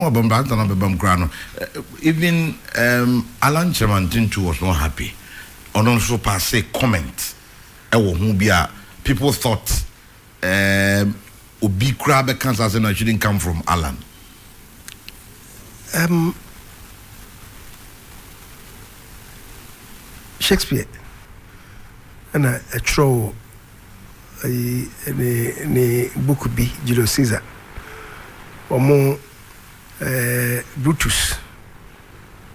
Ɔɔ bɛm bɛanta na bɛbam koraa no even um Allan Kyeremantentoo was not happy ɔno nso paase comment ɛwɔ ho bi a people thought um obi koraa bɛka saa asɛm no it shouldn't come from Allan. Um, Shakespeare ɛna ɛtwerɛ wɔ ayi ne ne book bi Julius Caesar wɔn eh, Brutus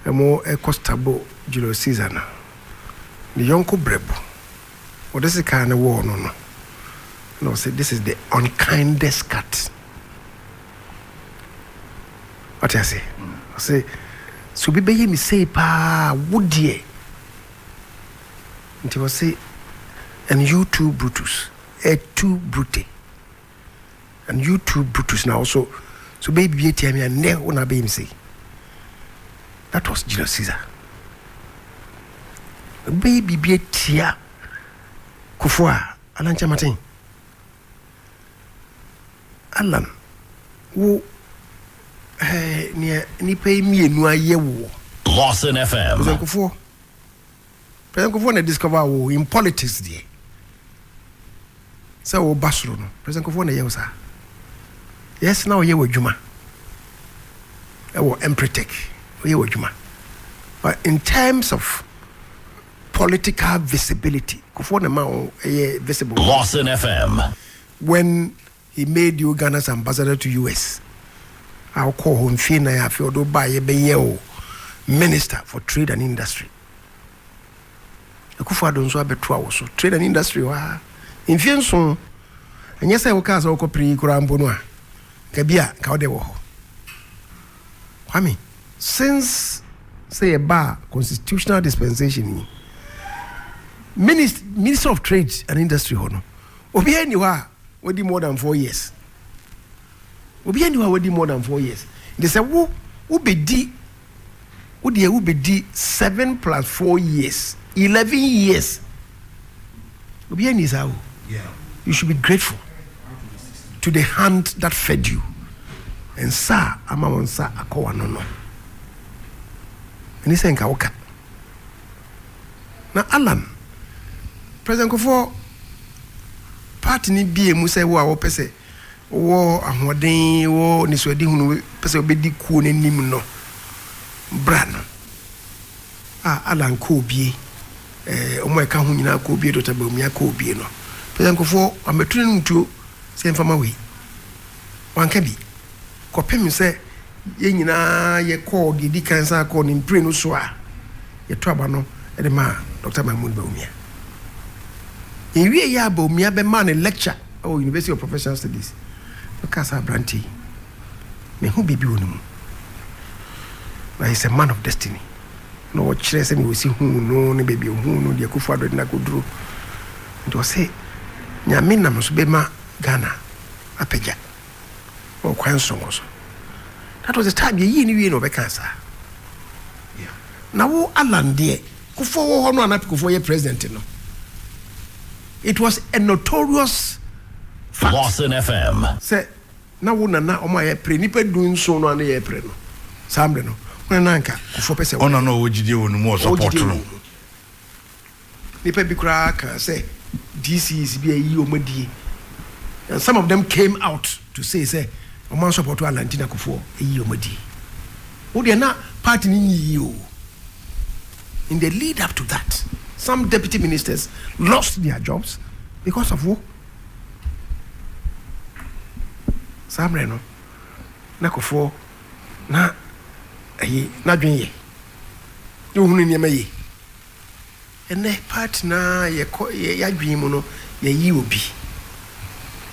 wɔn ɛkɔ stabo Julius Caesar no ne yɔnko brɛbo wɔde sika no wɔɔ no no na wɔsɛ this is the unkindest cut wɔte ase wɔsɛ sɛ obi bɛyɛ me sei paa wo deɛ Nti ɔse and you too Brutus, eh too brute and you too Brutus na ɔso so bɛyɛ biribi atia me a nnɛ wo na abɛyɛ me sei. That was Julius Caesar. Bɛyɛ biribi atia Kufuor a anankyɛ maten. Alan, wo eh, nea nnipa yi mmienu ayɛ woɔ. Lawson FM. Pɛsɛnkofoɔ. Pɛsɛnkofoɔ na discover wo in politics deɛ. Sɛ wo ba soro no, pɛsɛnkofoɔ na ɛyɛ wo saa. Yes, na ɔyɛ w'adwuma. Ɛwɔ Empretec, ɔyɛ w'adwuma. But in terms of Political visibility, Kufuor na ɛma ɔyɛ visible. Lawson FM. When he made you Ghana's ambassador to US, a wokɔɔ hɔ mfie nnan a afei ɔde wo baeɛ bɛyɛɛ wo minister for trade and industry. Akufo Addo nso abɛto a wo so trade and industry hɔ a mfie nso. Ɛnyɛ sɛ wokaa sɛ wokɔ pere yi koraa mpo no a, nka bi a nka wode wɔ hɔ. Kwame. Since sɛ yɛ baa constitutional dispensation yi, minis, ministry of trade and industry hɔ no, obiara nni hɔ a wadi more than four years. Obiara nni hɔ a wadi more than four years. Nti sɛ wo, wobɛdi, wo deɛ wobɛdi seven plus four years, eleven years. Obiara nni saa o. You should be grateful to the hand that fed you. Nsa a ama wo nsa akɔ w'ano no. Ɛne sɛ nka woka. Na Alan, President Kofoɔ party no bie mu sɛ wo a wɔpɛ sɛ wɔ ahoɔden wɔ nisuadi hunu pɛ sɛ wobɛdi kuo no anim no bra no a Alan kɔɔ bie. Eh, wɔn a ɛka ho nyinaa kɔ obie, Doctor Bawumia kɔ obie no. Pɛsɛ nkurɔfoɔ wɔabɛtu no nom tuo sɛ yɛmfa ma wei. Wanka bi. Kɔpem sɛ yɛn nyinaa yɛkɔɔ deɛ ɛdi kan san kɔɔ ne mprenu so a yɛto aba no de maa Doctor Mahmood Bawumia. Yɛwieeɛ a Bawumia bɛmaa no lecture wɔ University of Professional Studies. Ɔkaa sɛ aberanteɛ yi, mehu biribi wɔ ne mu. Na he's a man of destiny. na ɔrekyerɛ sɛnea osi huu no ne baabi a ohuu no, deɛ Akufo Addo de no akɔduru. Nti ɔse Nyame nam so bɛma Ghana apagya wɔ kwan soronko so. That was the time yɛyii no wiei na ɔbɛkaa saa. Na wo Allan deɛ, Kufuor wɔ hɔ no a na Kufuor yɛ president no, it was a notorious fact. Boston FM. Sɛ Na wo nana ɔmo a yɛ pere nipa du nson no a na yɛ pere no saa mmerɛ no wo nana anka kufoɔ pɛ sɛ wɔyɛ. Ɔna na ɔwɔ gyidie wɔ no mu ɔ support no. Nipa bi koraa kaa sɛ DCs bi ayi ɔmo adie and some of them came out to say sɛ ɔmo an support Anna nti na kufoɔ ayi ɔmo adie. Wo deɛ na party no nyi yie oo in the lead up to that some deputy ministers lost their jobs because of wo. Saa mmerɛ no, na Kufuor na ayi n'adwene yɛ, na ɔhunu nneɛma yie. Ɛnɛ party no ara yɛkɔ yɛ yɛadwene mu no yɛayi obi.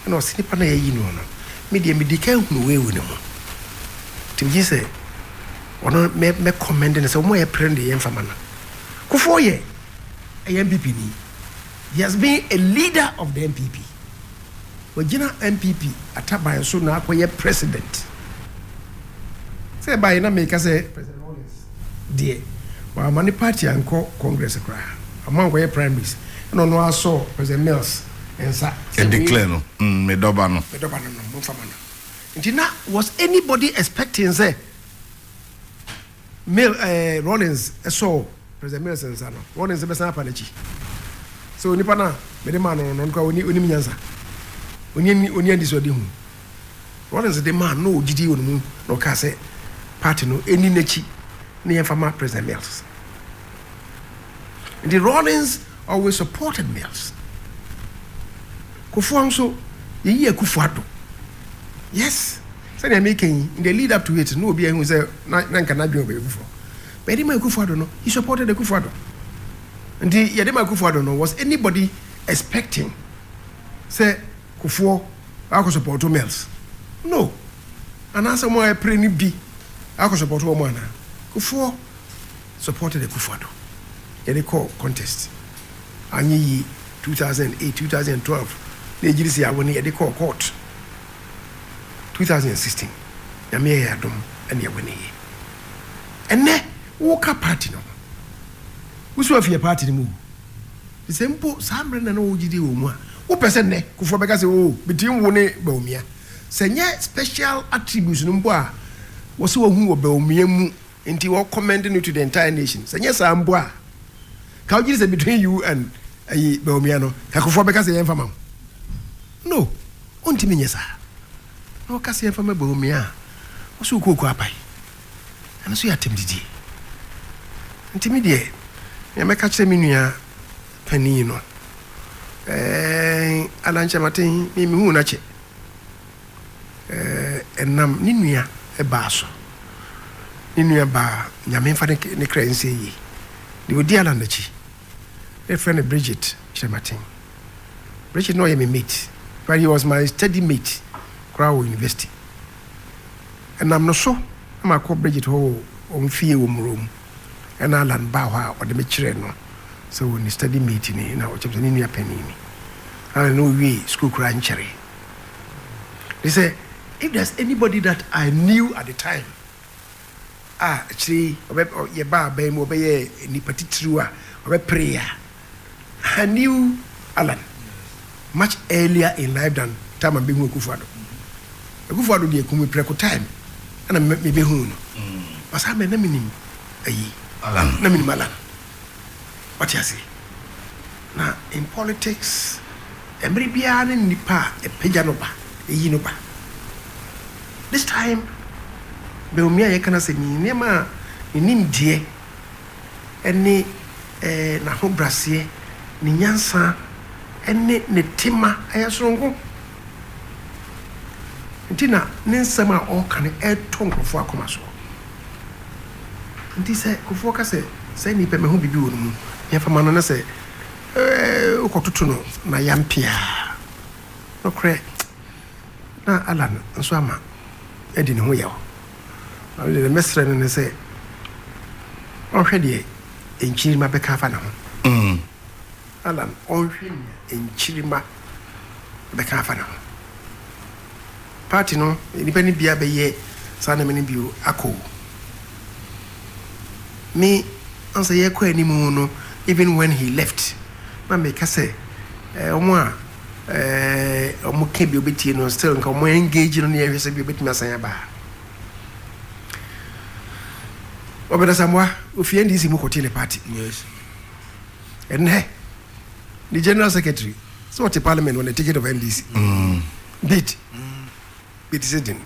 Ɛna ɔse nipa no a yɛayi no no me deɛ medi kan hunu wei wɔ ne mu. Nti megye sɛ ɔno mɛ mɛ commend no sɛ wɔn a yɛpere no deɛ yɛmfa ma no. Kufuor yɛ ɛyɛ NPP ni. He has been a leader of the NPP, wagyina NPP ataban so na akɔyɛ president. Sɛ ɛbaeɛ na meka sɛ President Rawlings deɛ wamma ne party ankɔ Congress koraa, wamma ankɔyɛ primaries, ɛna ɔno ara sɔɔ President Mills nsa sɛ wei Declare no, mm, me dɔba no. me dɔba no no, momfa ma no. Nti na was anybody expecting sɛ. Mil ɛɛ Rawlings sɔɔ President Mills nsa no, Rawlings bɛsan apa n'akyi. So onipa no a mede maa no no, ɔno koraa ɔni, ɔnim nyansa? Ɔni ani, ɔni anisoadehu? Rawlings de maa no na ɔgye dii wɔ ne mu na ɔkaa sɛ party no ɛni n'akyi na yɛmfa ma President Mills. Nti Rawlings always supported Mills. Kufuor nso, yɛyi Akufo-Addo. Yes. Sɛnea meka yi, in the lead up to it, na obiara ahu sɛ na na nka n'adwene wɔ baabi foforɔ. But yɛde maa Akufo-Addo no, he supported Akufo-Addo. Nti yɛde maa Akufo-Addo no, was anybody expecting sɛ Kufuor akɔ supporto Mills? No. Anaasɛ wɔn a ɛpere no bi akɔ supporto wɔn anaa? Kufuor supported Akufo-Addo. Yɛde kɔɔ contest. Anyɛ yie, 2008, 2012, na yɛgyiri sɛ yɛawo no, yɛde kɔɔ court. two thousand and sixteen Nyame yɛ yɛn adom ɛna yɛ wini yɛ ɛnɛ woka party no ho wosi wafi yɛ party no mu o sɛ mpo saa mmerɛ na na wo gyidi wɔ mu a wopɛ sɛ nnɛ kufoɔ bɛka sɛ o bɛtiri wo ne Bawumia sɛ nyɛ special attributes no mpo a wɔsɛ wahu wɔ Bawumia mu Nti wɔ commend no to the entire nation sɛ nyɛ saa mpo a ka wogye di sɛ between you and ayi Bawumia no Kakofoɔ bɛka sɛ yɛmfa ma wo no ɔntumi nyɛ saa na ɔka sɛ yɛmfa ma Bawumia a wo so wokɔ Okuapae ɛno so yɛ atɛmdidie nti me deɛ nea mɛka kyerɛ me nua panin no ɛɛ Anankyɛmaten me mehuu no akyɛ Ɛnam ne nua baa so. Ne nua baa, Nyame mfa ne kra nsie yie, deɛ ɔdi Alan akyi. Na yɛfrɛ no Bridget Kyerematen. Bridget na ɔyɛ me mate, but he was my study mate koraa wɔ university. Ɛnam no so na makɔ Bridget hɔ wɔ wɔn fie wɔ Muro mu. Ɛna Alan baa hɔ a ɔde me kyerɛɛ no sɛ wɔ ne study mate ni na ɔkyerɛ me sɛ ne nua panin ni. Alan na ɔwiee sukuu koraa nkyɛree. He said, If there's anybody that I knew at the time, a akyire yi ɔbɛ ɔ yɛbaa aban mu ɔbɛyɛɛ nipa titiriw a ɔbɛperee a, I knew Alan much earlier in life than time a mebɛhu Akufo-Addo. Akufo-Addo deɛ kumi prɛko time ɛna me mebɛhuu no. But saa mmerɛ na menim ayi, Alan. na menim Alan. Wate ase? Na in politics, mmere biara ne nnipa a ɛpagya no ba, ɛyi no ba. This time, Bawumia a yɛka no asɛm yi, nneɛma a ne nimdeɛ ne n'ahobraseɛ, ne nyansa ne ne tema, ɛyɛ soronko. nti na ne nsɛm a ɔreka no retɔ nkurɔfoɔ akoma so. Nti sɛ nkurɔfoɔ ka sɛ, saa nnipa yi, mahu biribi wɔ ne mu, deɛ fa ma no ne sɛ, wokɔtoto no n'ayampe a, nokorɛ na Allan nso ama adi ne ho yaw. Na medeɛ deɛ mɛsrɛ no ne sɛ, ɔnhwɛ deɛ nkyiri mabɛka afa ne ho. Alan ɔnhwɛ nea nkyirimma bɛka afa ne ho. Party no nnipa no biaa bɛyɛ saa nneɛma no bio akɔ o. Me ansa yɛkɔ anim no even when he left na meka sɛ eh wɔn a eh wɔn ka bi ɔbɛtie no still nka wɔn engage no ne yɛhwɛ sɛ bi ɔbɛtumi asan aba. Obed Asamoah ofi NDC mu kɔtee ne party. Yes. ɛnɛ ne general secretary sɛ ɔte parliament on the ticket of ndc mm. bid bɛti sɛ den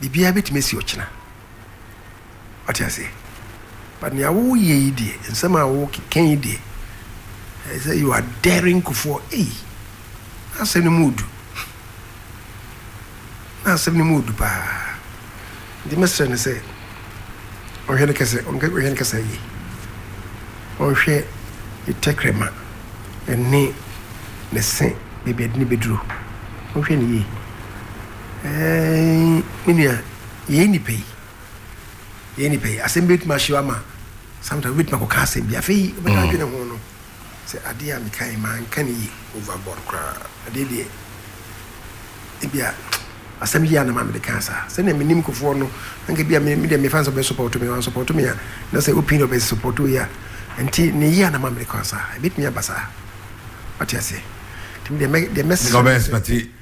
biribiaa bɛtumi asi ɔkyena ɔte aseɛ but nea woyɛ yi deɛ nsɛm a wokeka yi deɛ ɛsɛ you are daring kufoɔ ei asɛm no mu ɔdu Na asɛm no mu ɔdu paa. Nti mɛsrɛ no sɛ ɔnhwɛ no kɛsɛ ɔnhwɛ no kɛsɛ yie. Ɔnhwɛ ne tɛkrɛma ɛne ne se baabi ɛde no bɛduru. Ɔnhwɛ no yie. Ɛɛn me nua yɛyɛ nnipa yi yɛyɛ nnipa yi asɛm bi bɛtumi ahye wo ama sometimes wobɛtumi akɔka asɛm bi afei wobɛtaa dwene ho no. Sɛ adeɛ a mekaeɛ manka no yie. Over board koraa. Adeɛ deɛ ebia asɛm yie a na ma mede kaa saa. Sɛdeɛ menim nkurɔfoɔ no, anka ebia me deɛ mefa no sɛ wɔbɛsupɔɔto me. Wɔansupɔɔto me a, na sɛ opinion a wɔsupɔɔto yɛ a nti ne yie a na ma mede kaa saa. Ɛbɛtumi aba saa. Woate aseɛ? Nti me deɛ mɛ deɛ mɛsrɛ. Nka wobɛ expect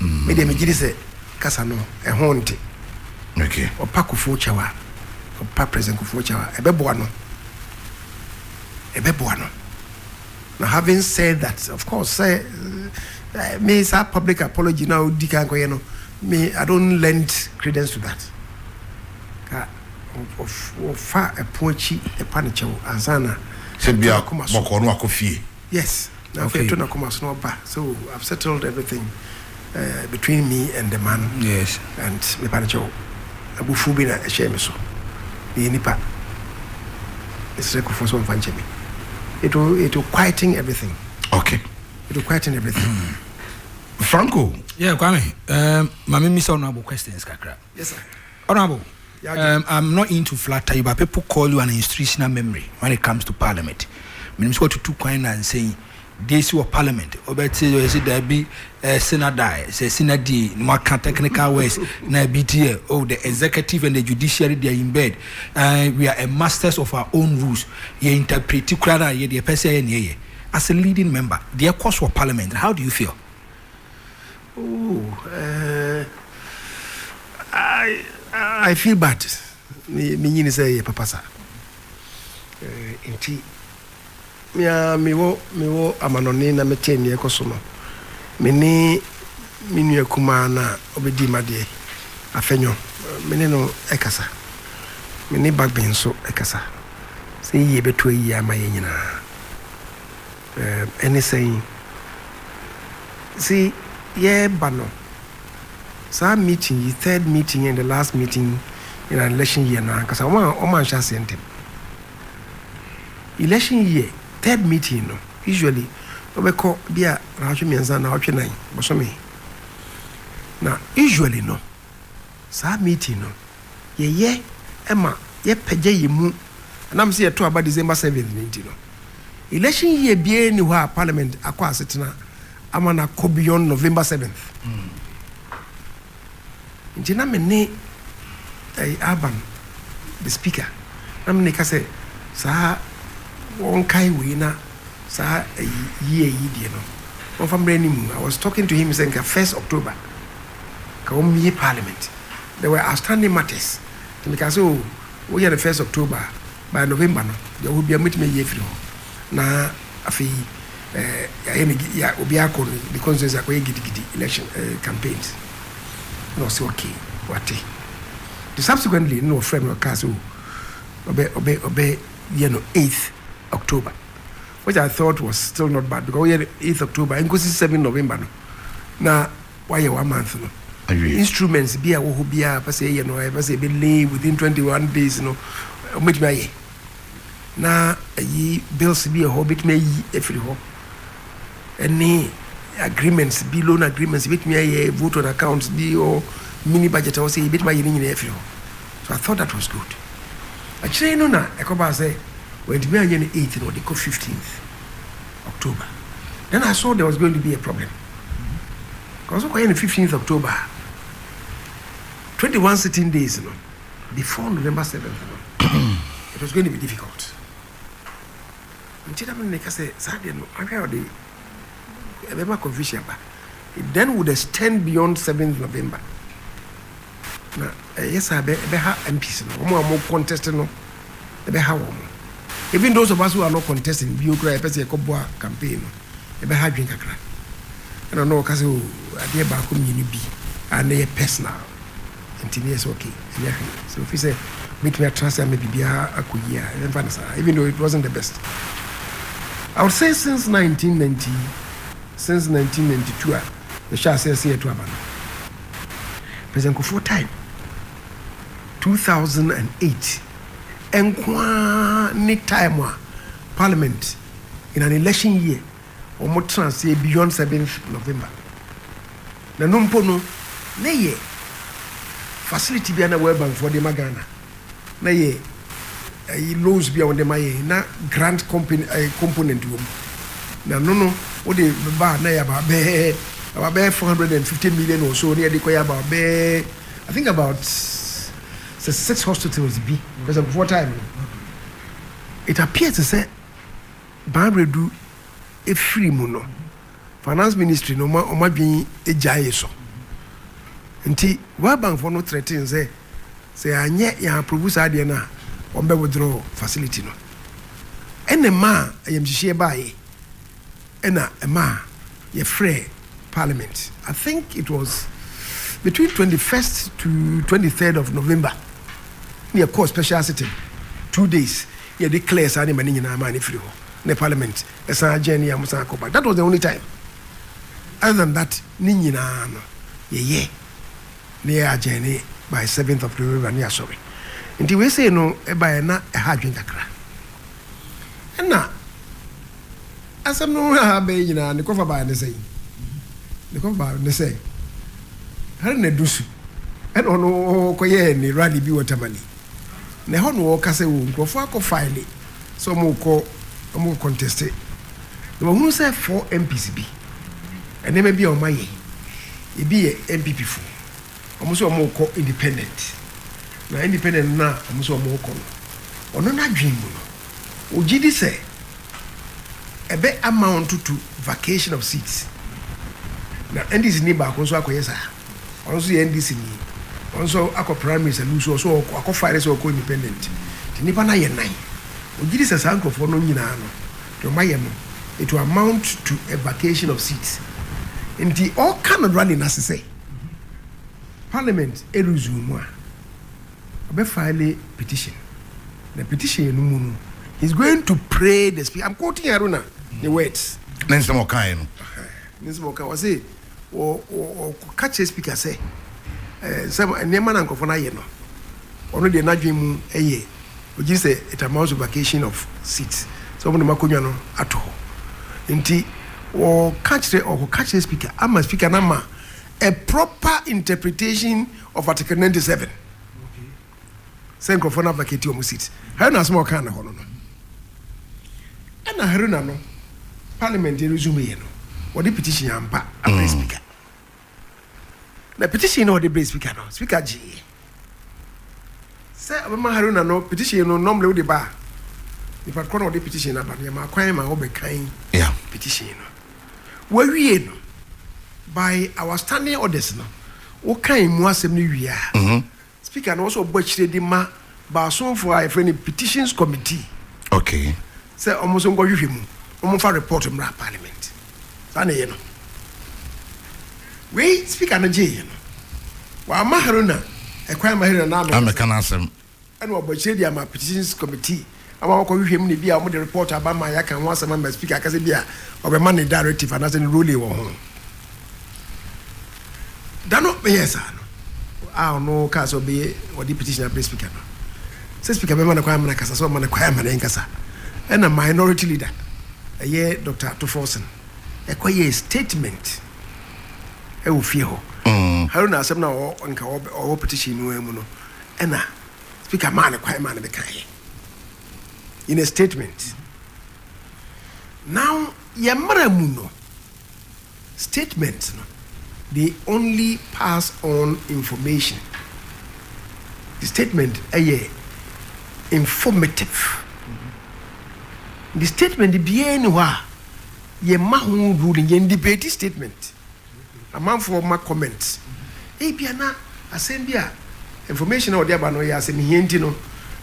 Me deɛ megye di sɛ kasa no ɛho nte. Okay. Ɔpa Kufuor Kyawa, ɔpa President Kufuor Kyawa. Ɛbɛboa no. Ɛbɛboa no. Now having said that, of course, sɛ eh, me saa public apology na odi kan kɔyɛ no, me I don't lend credence to that. Ka ɔfa ɛpo akyi ɛpa ne kyɛw ansa na. Sɛ bia bɔkɔɔ no akɔ fie. Yes na afei ɛto nakoma so na ɔba so I've settled everything uh, between me and the man yes and mepa no kyɛw abufuo bi na ɛhyɛɛ me so meyɛ nipa ɛsrɛ kufoɔ sɛ ɔmfa nkyɛ me it will, it will quieten everything okay it will quieten everything hmm. Franco yeah Kwame um, ma memmisa wo no abo questions kakra Yes sir. Honourable, um, I'm not into flatter you, but people call you an institutional memory when it comes to parliament. Menim sɛ watutu kwan na nsɛn deɛ si wɔ parliament wobɛte ɛsi daabi senadae sɛ senadie na moaka technical words na ebi ti yɛ oh the executive and the judiciary they are in bed uh, we are a masters of our own rules yɛ interpreti koraa no a yɛdeɛ pɛ sɛ yɛ neɛ yɛ as a leading member deɛ ɛkɔ so wɔ parliament how do you feel Ooh, eh, I feel bad. Me, me nyini sɛ yɛ papa sa. Eh, nti, me a me wɔ, me wɔ amanɔne na me te neɛ kɔ so no. Me ne me nua kumaa na ɔbɛdi madeɛ, Afɛnyɔ, me ne no ɛkasa. Me ne Bagben nso ɛkasa. Sɛ yie bɛtu ayie ama yɛn nyinaa. Ɛne sɛn? Dze yɛreba no, saa meeting yi, third meeting and the last meeting in an election year no ankasa, wɔannhyɛ aseɛ ntɛm. Election year third meeting no, usually wɔbɛkɔ bi a naawɔtwe mmiɛnsa, naawɔtwe nan, bosome. Na usually no. Saa meeting no, yɛyɛ ma yɛpagya yɛn mu, ɛnam sɛ yɛto aba December seventh no nti no. Election year biara nni hɔ a Parliament akɔ asetena ama no akɔ beyond November seventh. Nti na me ne eh, Alban, the Speaker, na me ne ka sɛ saa wɔnkae wei na saa eh, year yi deɛ no wɔmfa mmrɛ anim. I was talking to him sɛ nka first October ka wɔn yie parliament there were outstanding matters nti me kaa sɛ oh wo yɛ no first October a by November no deɛ ɔwɔ biara mɛtumi ayie afiri hɔ na afei eh, yɛayɛ no ya obiara akɔ no ne constituency akɔyɛ gidigidi election eh, campaigns na ɔsɛ okay wate the subsequently na ɔfrɛ me ɔkaa sɛ oh ɔbɛ ɔbɛ ɔbɛ yɛ no 8th October which I thought was still not bad because ɔyɛ 8th October nkosi 7 November no na Wayɛ w'amanse no awie. Instruments bi a ɛwɔ hɔ biara a ɛpɛ sɛ yɛyɛ no a yɛpɛ sɛ yɛbɛ lay within twenty one days no, wɔbɛtumi ayɛ. Na ayi bills bi wɔ hɔ wɔbɛtumi ayi afiri hɔ ɛne agreements bi, loan agreements yɛbɛtumi ayɛ, vote on accounts bi wɔ mini budget a wɔsɛ yɛbɛtumi ayɛ ne nyinaa afiri hɔ. So I thought that was good. Akyire no na ɛkɔbaa sɛ wɔntumi anyɛ no eight na wɔde kɔ fifteenth October. Then I saw there was going to be a problem. Kɔ so kɔyɛ no fifteenth October a twenty one sitting days no before November seventh no it was going to be difficult nti na me ne ka sɛ saa deɛ no ahwɛ a ɔde ɛbɛma confusion aba it then would extend beyond seventh November na ɛyɛ saa ɛbɛha MPs no wɔn a wɔn contest no ɛbɛha wɔn even those of us who are not contesting bio kura yɛpɛ sɛ yɛkɔboa campaign no ɛbɛha adwene kakra. Ɛna na ɔka sɛ oh adeɛ baako mmienu bi a na ɛyɛ personal nti na yɛ sɛ okay ɛnyɛ hwee sɛ ofi sɛ mɛtumi atena ase ama biribiara akɔ yie a yɛmfa no saa even though it wasn't the best I would say since 1990 since 1992 a yɛhyɛ aseɛ sɛ yɛto aba no President Kufuor time 2008 nkoaa ne time a parliament in an election year wɔn tena aseɛ beyond seventh November na no mpo no ne yɛ facility bi a na World Bankfoɔ de ma Ghana na yɛ ɛyi loans bi a wɔde ma yɛn na grant company ɛɛ component wɔ mu na no no wɔde ba na yɛ aba bɛɛ aba bɛɛ four hundred and fifty million or so ne yɛde kɔ yɛ aba bɛɛ I think about sɛ six hospitals bi pɛsɛ nkurɔfoɔ time no. It appears te sɛ Baabredu firi mu no finance ministry no wɔn adwene gyaee so nti World Bank foɔ no threaten sɛ sɛ yɛanyɛ yɛn approve saa adeɛ no a wɔbɛ withdraw facility no ɛna ɛmaa ayamhyehyeɛ baeɛ. Ɛna ɛmaa yɛfrɛɛ parliament I think it was between twenty first to twenty third of November na yɛkɔɔ special sitting two days na yɛde clear saa nneɛma no nyinaa maa no firi hɔ na parliament ɛsan adjourn yɛ a wɔsan akɔ back that was the only time other than that ne nyinaa no yɛyɛ na yɛ adjourn by seventh of November na yɛasɔre nti wei sei no ɛbaeɛ na ɛha adwene kakra ɛna Asɛm no ho abɛn yi nyinaa, ne kɔfa bae ne sɛn? Ne kɔfa bae ne sɛ, Haruna Dusu na ɔno kɔyɛɛ ne rally bi wɔ Tamale, na ɛhɔ na ɔka sɛ o nkurɔfoɔ akɔ file sɛ wɔkɔ wɔkɔ conteste, na wɔhunu sɛ four MPs bi nneɛma bi a wɔayɛ, ebi yɛ NPP foɔ. Wɔn sɛ wɔrekɔ independent, na independent no a wɔn sɛ wɔrekɔ no, ɔno n'adwene mu no, ɔgye di sɛ ɛbɛ amount to vacation of seats. Na NDC ni baako nso akɔyɛ saa, ɔno nso yɛ NDC ni, ɔno nso akɔ primaries and nso ɔso ɔkɔ akɔ file sɛ ɔkɔ independent. Nti nnipa no ayɛ nnan. Ɔgye di sɛ saa nkurɔfoɔ no nyinaa no, deɛ wɔn ayɛ no, it will amount to a vacation of seats. Nti ɔreka no rally no ase sɛ. Parliament resume mu a, ɔbɛ file petition, na petition no mu no, he's going to pray the speaker. I'm quoting Haruna, the words. Ne nsɛm ɔkaeɛ no. Ne nsɛm ɔkaeɛ, ɔse, ɔka kyerɛ speaker sɛ, sɛ nneɛma na nkurɔfoɔ no ayɛ no, ɔno deɛ n'adwene mu yɛ Ɔgye sɛ it amounts to vacation of seats, sɛ wɔde wɔn akonnwa no ato hɔ. Nti wɔka kyerɛ, wɔkɔka kyerɛ Speaker ama Speaker no ama a proper interpretation of Article ninety seven sɛ nkurɔfoɔ no avacate wɔn seats. Haruna asɛm a ɔkaa no hɔ no no, ɛna Haruna no Parliament resumeeɛ no, wɔde petition ampa abrɛ Speaker. Na petition no a ɔde brɛɛ speaker no, speaker gyee sɛ ɔbɛma Haruna no petition no nɔmle wode ba a, nipa korɔ na ɔde petition no aba no, yɛmaa kwan ma wɔbɛkan petition no. Wɔawie no, by our standing orders no, wokan mu asɛm no wie a, mm-hmm. Speaker no ɔsɛ ɔbɔ akyire de ma baasonfoɔ a yɛfrɛ no Petitions Committee Okay. sɛ wɔn nso nkɔhwehwɛ mu na wɔn nfa report mmra Parliament. Saa na ɛyɛ no. Wei Speaker no gyeeɛ no, wamma Haruna ɛkwan ma Haruna na amɛka Amɛka n'asɛm. n'asɛm. Ɛna wabɔ akyire de ama Petitions Committee ama wɔakɔhwehwɛ mu na ebia wɔde report aba ma yɛaka ho asɛm ama Speaker akasa bi a ɔbɛma ne directive anaasɛ ne ruling wɔ ho. Da no meyɛɛ saa no a ɔno kaa sɛ ɔbɛyɛ ɔde petition abrɛ Speaker no sɛ Speaker bɛma no kwan ama no akasa sɛ ɔma no kwan ama no nkasa ɛna minority leader ɛyɛ Dr. Ato Forson ɛkɔyɛɛ statement ɛwɔ fie hɔ. Haruna asɛm no a ɔwɔ nka ɔwɔ petition no ara mu no ɛna Speaker maa no kwan maa no bɛkaeɛ in a statement. Now yɛ mmara mu no statement no they only pass on information. The statement ɛyɛ informative. The statement biara ni hɔ a yɛma ho ruling yɛn debate statement. Amanfoɔ ma comment. Ebia na asɛm bi a information a wɔde aba no yɛ asɛmhia nti no,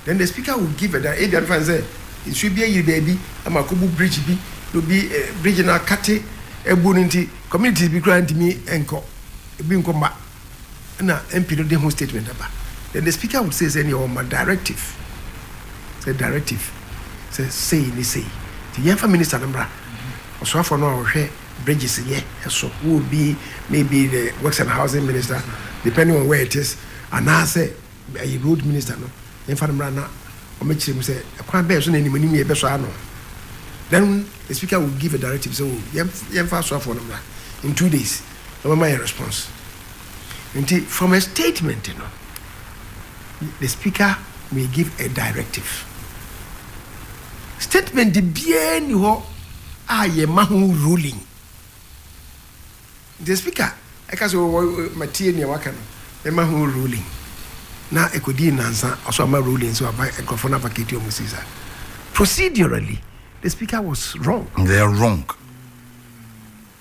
then the speaker will give a direct. Ebia mfa no sɛ nsuo bi ayiri baabi ama akɔbu bridge bi na obi bridge no akate abu no nti communities bi koraa ntumi nkɔ ebi nkɔ mma ɛna MP no de ho statement aba. Then the speaker would say sɛ ɛneɛ ɔma directive sɛ directive sɛ sei ne sei nti yɛmfa minister no mmra ɔsoafoɔ no a ɔhwɛ bridges nyɛ ɛso wo obi maybe the works and housing minister depending on where it is anaasɛ ɛyɛ road minister no yɛmfa no mmra na ɔmɛkyerɛ mu sɛ ɛkwan bɛn so na animanim yɛ bɛsɔ ano then the speaker will give a directive sɛ o yɛmfa asoafoɔ no mmra in two days na ɔmɛma yɛ response nti from a statement no The speaker may give a directive. Statement biara nni hɔ a yɛma ho ruling. The speaker ɛka sɛ wɔ matie nea waka no, mɛma ho ruling. Na ɛkɔdii nnansa, ɔso ama ruling nso aba nkurɔfoɔ no avakati ɔmo sii saa. Procedurally, the speaker was wrong. They're wrong.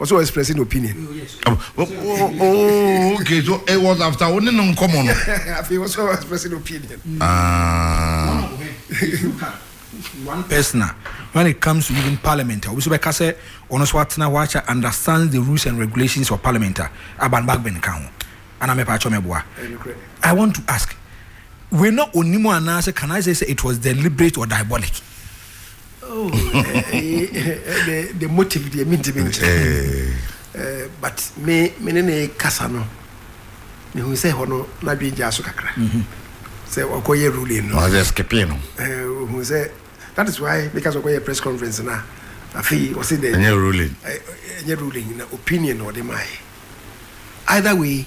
Ɔsɛ ɔ express ne opinion. Oh okay so it was after wo ne no nkɔmɔ no. Afei ɔsɛ ɔ express ne opinion. Ah. One person a when it comes to even parliament a obi so bɛka sɛ ɔno so atena hɔ akyɛ understands the rules and regulations of parliament a Aban Bagbin ka ho ana mɛpa akyɛ mɛboa. I want to ask wei na onimu anaasɛ can I say sɛ it was deliberate or diabolic. Oh, eh, eh, eh, the, the motive deɛ mentimi nkyerɛ eh. eh, but me me ne ne kasa no mehu sɛ hɔ no n'adwene gyaa so kakra mhm. sɛ ɔkɔyɛ ruling no ɔsɛ skipping no eh, hu sɛ that is why meka sɛ ɔkɔyɛ press conference no a afei ɔse dɛ ɛnyɛ ruling ɛnyɛ ruling na opinion na ɔde maaɛ either way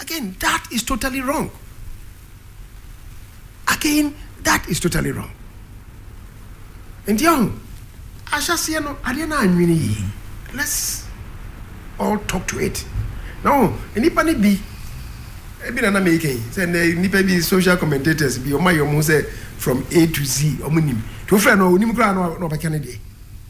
Again that is totally wrong again that is totally wrong nti ɛho ahyɛseɛ no adeɛ no anwene yie let's all talk to it na ho nnipa no bi ebi na na meka yi sɛ na nnipa bi social commentators bi ɔma yɛ ɔmo sɛ from A to Z ɔmo nim to frɛ no ɔnim koraa na ɔbɛka ne deɛ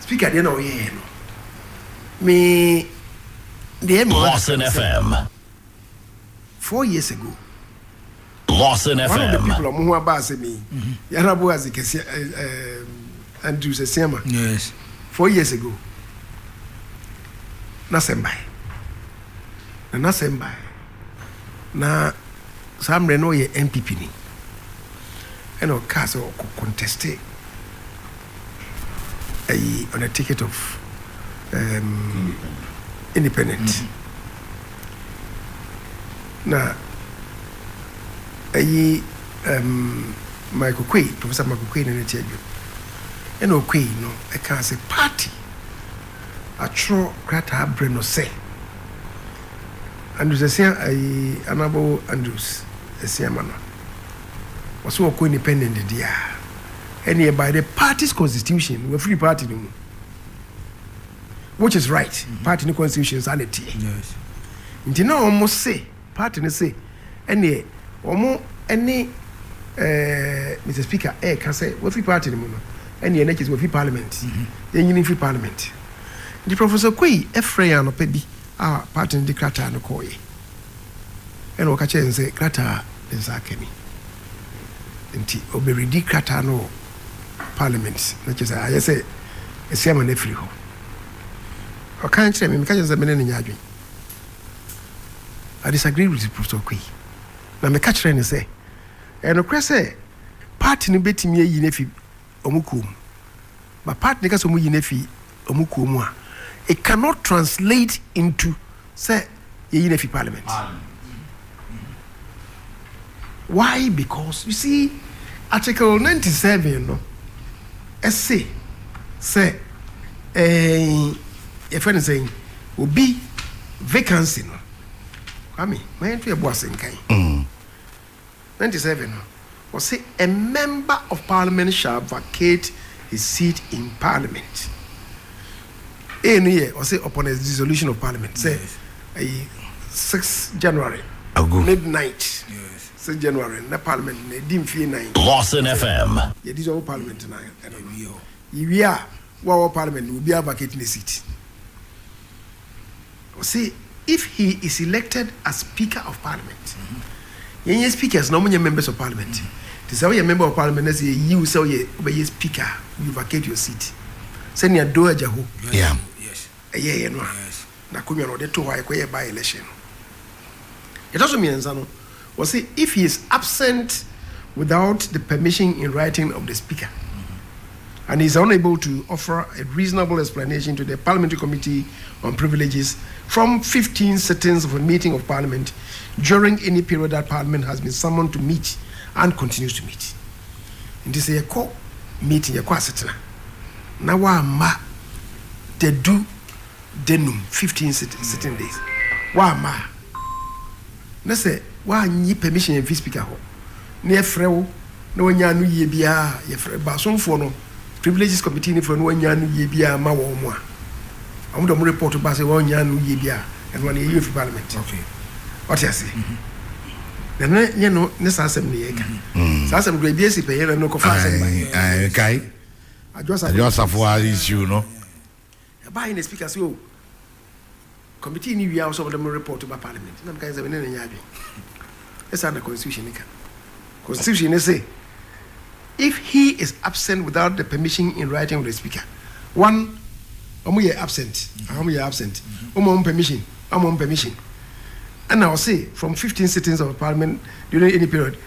Speaker deɛ na ɔyɛɛ no me deɛ me mother Lawson FM four years ago Lawson FM one of the people ɔmo ho aba asɛ mi mhm. yàrá bo ase kɛse ɛɛ eh, eh, Andrew Sesiama yes four years ago n'asɛm bae na n'asɛm bae na saa mmerɛ no ɔyɛ NPP ni ɛna ɔkaa sɛ ɔkɔ conteste ayi on a ticket of um, independent, independent. Mm -hmm. na ayi um, Michael Quay Professor Michael Quay na ne ti adwo ɛna ɔkɔ yi no ɛka sɛ party atwerɛ krataa brɛ no sɛ Andrews Asia ayi anabo Andrews Asia ma no Wɔse wɔkɔ independent deɛ a, ɛneɛ by the party's constitution, wafiri party no mu. Which is right, party no constitution saa na ɛteɛ. Nti na wɔn se, party no se, ɛneɛ wɔn ɛne eh, Mr Speaker ɛreka sɛ wafiri party no mu no, ɛneɛ na kyerɛ sɛ wafiri parliament. Yɛnyini mfiri parliament. Nti Professor Quaye ɛfrɛ yɛn anɔpa bi a party no de krataa no kɔɔeɛ. Ɛnna ɔka kyerɛɛ no sɛ, Krataa a ne nsa aka ni. Enti ɔbɛredi krataa no wɔ Parliament, na kyerɛ sɛ ayɛ sɛ asi ama no afiri hɔ. Ɔka kyerɛɛ me, meka kyerɛɛ no sɛ me ne no nyɛ adwene. I disagreed with Professor Okoye, na meka kyerɛɛ no sɛ, ɛyɛ nokorɛ sɛ party no bɛtumi ayi no afi wɔn kuo mu. But part ne ka sɛ wɔn yi no afi wɔn kuo mu a, it cannot translate into sɛ yɛyi no afi parliament. Why? Because you see article ninety seven no ɛse sɛ ɛɛn yɛfɛ no sɛn obi vacancy no kwame ma yɛn to yɛ bo ase nkan. Mm. ninety seven no, ɔse a member of parliament shall vacate his seat in parliament. A no yɛ ɔse upon a dissolution of parliament sɛ ɛyi six January midnight six January na parliament no ɛdi mfie nan. Lawson FM. Yɛ dissolve parliament no a ɛno no yɛwie a. Wo a wɔ parliament no obiara vacate ne seat. Ɔse if he is elected as speaker of parliament yɛn yɛ speakers na ɔmo nyɛ members of parliament nti sɛ woyɛ member of parliament na sɛ yɛyi wo sɛ woyɛ wobɛyɛ speaker a you vacate your seat sɛnea Doe Ajaho Yeah. ɛyɛeɛ no a n'akonwa no ɔde too hɔ a yɛkɔyɛɛ by election no. Deɛ ɛtɔ so mmiɛnsa no, wɔse if he is absent without the permission in writing of the speaker and he is unable to offer a reasonable explanation to the parliamentary committee on privileges from fifteen sittings of a meeting of parliament during any period that parliament has been summoned to meet and continues to meet. Nti sɛ yɛkɔ meeting, yɛkɔ asetena na wamma da du da num, fifteen sitting days, woamma a, na sɛ woannye permission amfi Speaker hɔ na yɛfrɛ wo na woannya ano yie biara a, yɛfrɛ Baasomfoɔ no, Privileges Committee no frɛ no woannya ano yie biara amma wɔn mu a, wɔn de wɔn report ba sɛ wɔannya ano yie biara a, ɛno ano yɛyi afi Parliament. Wate aseɛ? Na ne yɛ no ne saa asɛm no yɛka. Saa asɛm no ebi asi pɛ yɛ na no kɔfa asɛm ba. Kae. Adwo Asafo a issue no. Ɛbaa yɛ na speaker sɛ oh committee ni wia ɔsɛ ɔmo de mo report ba parliament na meka sɛ mene ne nyɛ adwen ɛsaa na constitution ne ka constitution ne se if he is absent without the permission in writing of the speaker one ɔmo yɛ absent ɔmo yɛ absent ɔmo ɔmo permission ɔmo ɔmo permission ɛna ɔse from 15 sittings of parliament during any period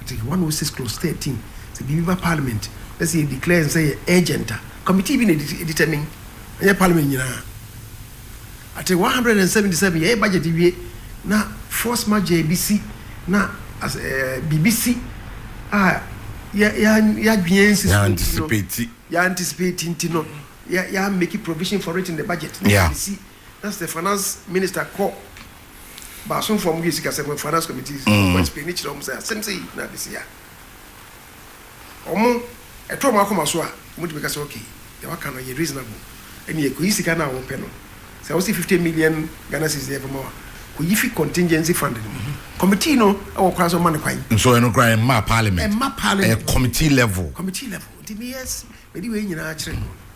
Article one oh six clause thirteen, Sɛ biribi ba Parliament na sɛ yɛ declare no sɛ ɛyɛ urgent a, committee bi na determine, ɛnyɛ Parliament nyinaa. Article one hundred and seventy seven, Yɛyɛ budget wie na force majeure bi si na as ɛɛ biribi si a yɛ yɛ yɛadwene ansi so nti no, yɛ anticipate nti no, yɛ yɛ amake provision for it in the budget na yɛde si. na sɛ finance minister kɔ baasomfoɔ a wɔyɛ sikasɛm wɔ finance committee sɛ wɔkɔ explain kyerɛ wɔn sɛ asɛm sei na ade sei a wɔn ɛtɔ wɔn akoma so a wɔtumi ka sɛ okay deɛ waka no ɛyɛ reasonable ɛnneɛ kɔyi sika no a wɔpɛ no sɛ wɔsi fifty million Ghana cedis deɛ ɛbɛma wa kɔyi fi contingency fund no mu committee no ɛwɔ kwan sɛ wɔma no kwan nso ɛno koraa ɛmma parliament ɛmma parliament ɛyɛ committee level committee level nti meyɛ mede wei nyinaa kyerɛ no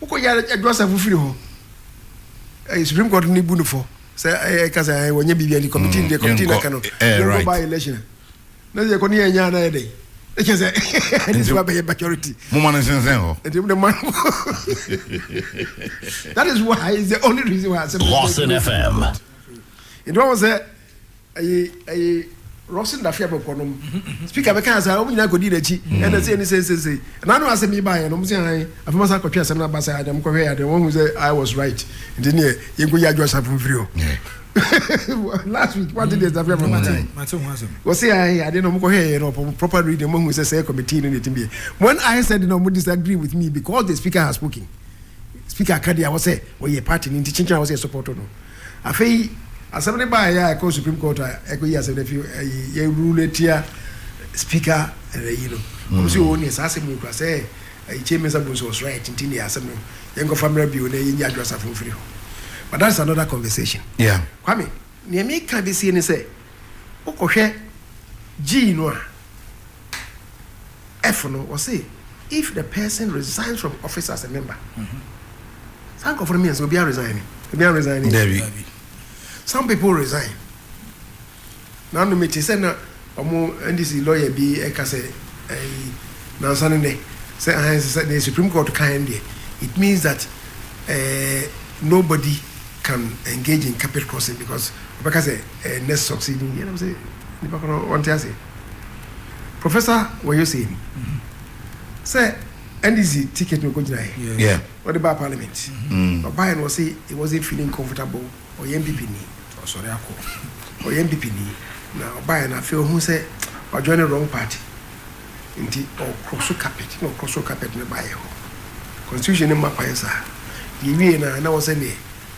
Wokɔgyaa no ɛdɔ asafo firi hɔ ɛɛ supreme court ni bu no fɔ sɛ ɛɛ ɛka sɛ ɛɛ wɔnyɛ biribi ani committee mm, ni deɛ committee na ka no yɛnkɔ by election na sɛ yɛkɔ ne yɛn nyaa na yɛ dɛ ɛkyɛ sɛ ɛne sɛ wabɛyɛ majority. mo ma no nsensɛn hɔ. ɛti mo de ma no that is why is the only reason why asɛm. Boston FM. ɛdi wɔn sɛ. Ɛyi ɛyi Rosin Dafia bɛkɔ nom speaker bɛka asa wɔn nyinaa kɔdi n'akyi mm. ɛna sɛ ɛni sɛ sɛ sɛ ɛna ano asɛm yi ba yɛ no wɔn sɛ han afei ma sa kɔtwe asɛm no aba sɛ adeɛ wɔn kɔhwɛ yɛ adeɛ wɔn hu sɛ I was right nti neɛ yɛn kɔ yi adwo asafo mfiri hɔ last week wọ́n ti di ẹ̀sán fún ẹ̀fọ́ mọ́tò yìí wọ́n sì ayé adé náà mo kọ́ hẹ́ẹ̀ yẹn náà ọ̀pọ̀ proper reading mo hun sẹ́ sẹ́ committee ní ẹ̀tí bíyẹn when I said náà mo disagree with me because the speaker has spoken speaker akadé àwọn sẹ́ wọ́n yẹ party ní ti chinchin àwọn sẹ́ support ọ̀nà. Afei asɛm no baeɛ a ɛkɔɔ Supreme Court a ɛkɔyi asɛm no afi ayi yɛ rule atia Speaker ayi no. Wɔn nso oo neɛ saa asɛm wei koraa sɛ ayi Kyei Mensah Bonsu was right nti neɛ asɛm no yɛnkɔfa mmra bio na yɛnyi Adwo Asafo mfiri hɔ. But that is another conversation. Kwame, neɛ meka de sie ne sɛ wokɔhwɛ Gyii no a, F no, wɔse if the person resigns from office as a member, saa nkurɔfoɔ no mmiɛnsa obiara resign ni? Obiara resign ni? Dabi. Some people resign. Nano mete sɛ na wɔn NDC lawyer bi ɛka sɛ ɛyi nansa ne nɛ sɛ ahan sɛ sɛ the Supreme Court kan deɛ it means that eh, nobody can engage in carpet crossing because wɔbɛka sɛ eh, next succeeding year. Nam sɛ Nnipa korɔ no wɔnte aseɛ. Professor Wayo said sɛ NDC ticket no kɔgyinaeɛ. Yes. Yeah. Wɔde baa parliament. Mm. Ɔbaeɛ no ɔse he wasn't feeling comfortable. Ɔyɛ NPP ni. Ɔsɔre akɔ. Ɔyɛ NPP ni. Na ɔbaeɛ no afei ɔhu sɛ wajoin the wrong party. Nti ɔkorɔ so carpet na ɔkorɔ so carpet no baeɛ hɔ. Constitution no mma kwan saa. Yɛwie no a na wɔsɛ neɛ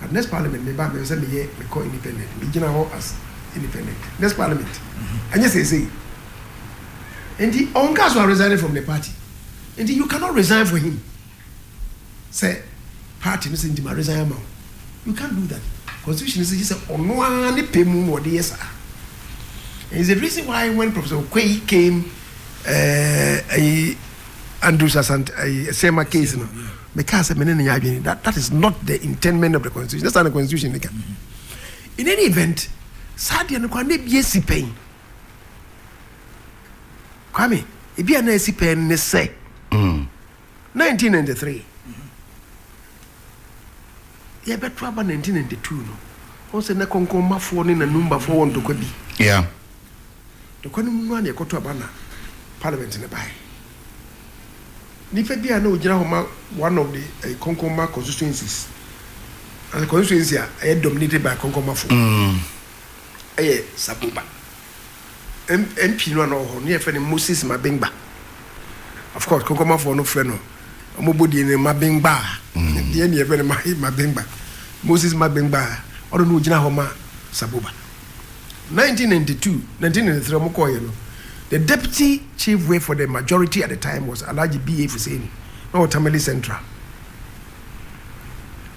but next parliament me ba me sɛ me yɛ me kɔ independent me gyina hɔ as independent next parliament ɛnyɛ seesei nti ɔnka so a resigning from the party nti you cannot resign for him sɛ party no sɛ nti ma resign ama wo you can't do that constitution sɛ gye sɛ ɔno ara ne pɛ mu na ɔde yɛ saa and it's the reason why when professor Okwei came ɛɛ uh, uh, Andrews Asante ɛɛ uh, Sema case no. Yeah. Me kaa sɛ me ne no nyɛ adwene that that is not the intendment of the constitution. That's not the constitution ne ka. In any event, saa deɛ no kwan na ebi esi pɛn. Kwame, ebi a na esi pɛn ne sɛ. 1993. Yɛbɛto aba 1992 no. Wɔn sɛ na kɔnkɔnmafoɔ ne nanumbafoɔ wɔ ntɔkwa bi. Yeah. Ɛkwan no mu no ara na yɛkɔto aba na parliament no bae. Nipa bi a na ogyina hɔ ma one of the ɛyi Konkonma constituencies, as constituency a ɛyɛ dominated by Konkonmafo, ɛyɛ Saboba. M MP no a na ɔwɔ hɔ no yɛfrɛ no Moses Mabengba. Of course Konkonmafoɔ no frɛ no wɔn bɔ din no Mabengbaa, nti yɛn deɛ yɛfrɛ no Mabengba. Moses Mabengbaa, ɔno na ogyina hɔ ma Saboba. Nineteen ninety two, nineteen ninety three wɔn kɔɔeɛ no, the deputy chief whip for the majority at the time was Alhaji B. A. Fuseni, na ɔwɔ Tamale Central.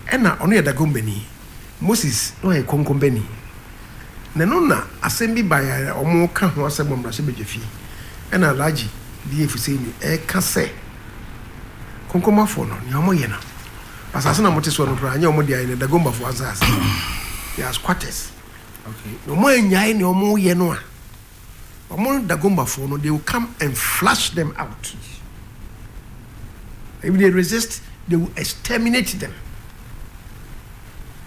Ɛna ɔno yɛ Dagombani, Moses na ɔyɛ Konkombani. Na ɛno na asɛm bi baeɛ a wɔn reka ho asɛm wɔ mmarahyɛbadwafie, ɛna Alhaji B. A. Fuseni ɛreka sɛ Konkomafoɔ no nea wɔyɛ no, Asase na wɔte soɔ no koraa nyɛ wɔn dea, ɛyɛ Dagombafoɔ asase. They are squatters. Okay. Na wɔn anyae nea wɔn reyɛ no a, wɔn Dagombafoɔ no, they will come and flush them out. If they resist, they will exterminate them.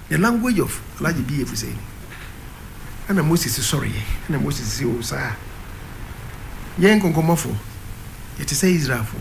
The language of Alhaji B. Efusei no. Ɛna Moses sɔreɛ, ɛna Moses sɛ o saa. Yɛn nkɔnkɔmmɔfoɔ, yɛte sɛ Israelfoɔ.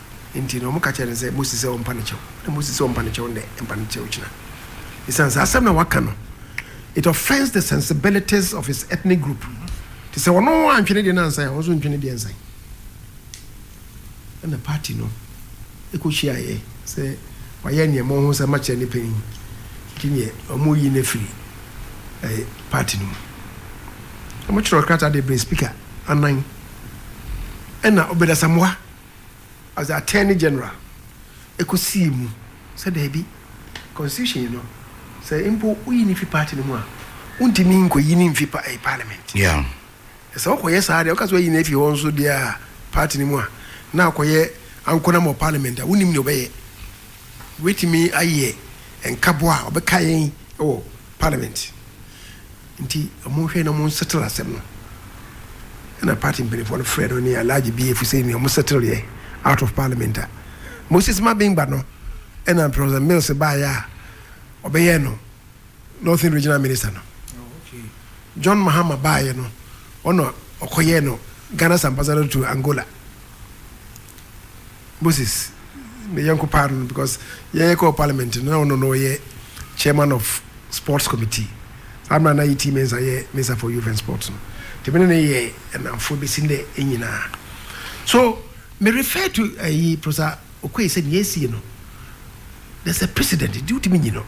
Enti na wɔka kyerɛ no sɛ, Mose sɛ ɔmpa no kyɛw nnɛ, Mose sɛ ɔmpa no kyɛw nnɛ, mpa no kyɛw kyena. Esiane saa asɛm na waka no, it offends the sensibilities of his ethnic group. Te sɛ ɔno antwe ne deɛ no ansan a, wɔn nso ntwe ne deɛ nsan. Ɛna party no ɛkɔhyiaeɛ sɛ wayɛ nneɛma ɔho sɛ makyerɛ ne panyin nti neɛ wɔyi no afiri eh, party no mu. Wɔkyerɛw krataa de brɛ speaker anan ɛna Obed Asamoah as the Attorney General ɛkɔsii mu sɛ daabi, constitution no sɛ mpo woyi no fi party no mu a, wontumi nkɔyi no mfi pa, eh, parliament. Yeah. Na sɛ wokɔyɛ saa deɛ, woka sɛ woayi no afi hɔ nso deɛ a party no mu a, na akɔyɛ ankonam wɔ parliament a, wonim deɛ ɔbɛyɛ. Wobɛtumi ayɛ nkabɔ a ɔbɛka yɛn wɔ parliament. Nti monhwɛ na mo settle asɛm no. Ɛna party mpaninfoɔ no frɛ no ne Alhaji BA fo sɛ nua mo settle yɛ out of parliament a. Moses Mabingba no ɛna Professor Mills baeɛ a ɔbɛyɛɛ no Northern Regional Minister no. John Mahama baeɛ no ɔna ɔkɔyɛɛ no Ghana's Ambassador to Angola. Moses ne yɛnko paa no because yɛyɛ kɔɔ parliament no na ɔno na ɔyɛ chairman of sports committee saa mmerɛ na yi tii mensa yɛ mensa for youth and sports no nti mene ne yɛ ɛnamfoɔ bɛsi ndɛ ɛnyinaa so me refer to ɛyi eh, prosa okoe sɛ nea ɛsie no there's a precedent nti wotumi nyi no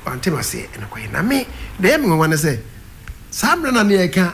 wantem aseɛ ɛnokɔɛ na me na ɛyɛ me nwanwa ne sɛ saa mmerɛ na ne yɛka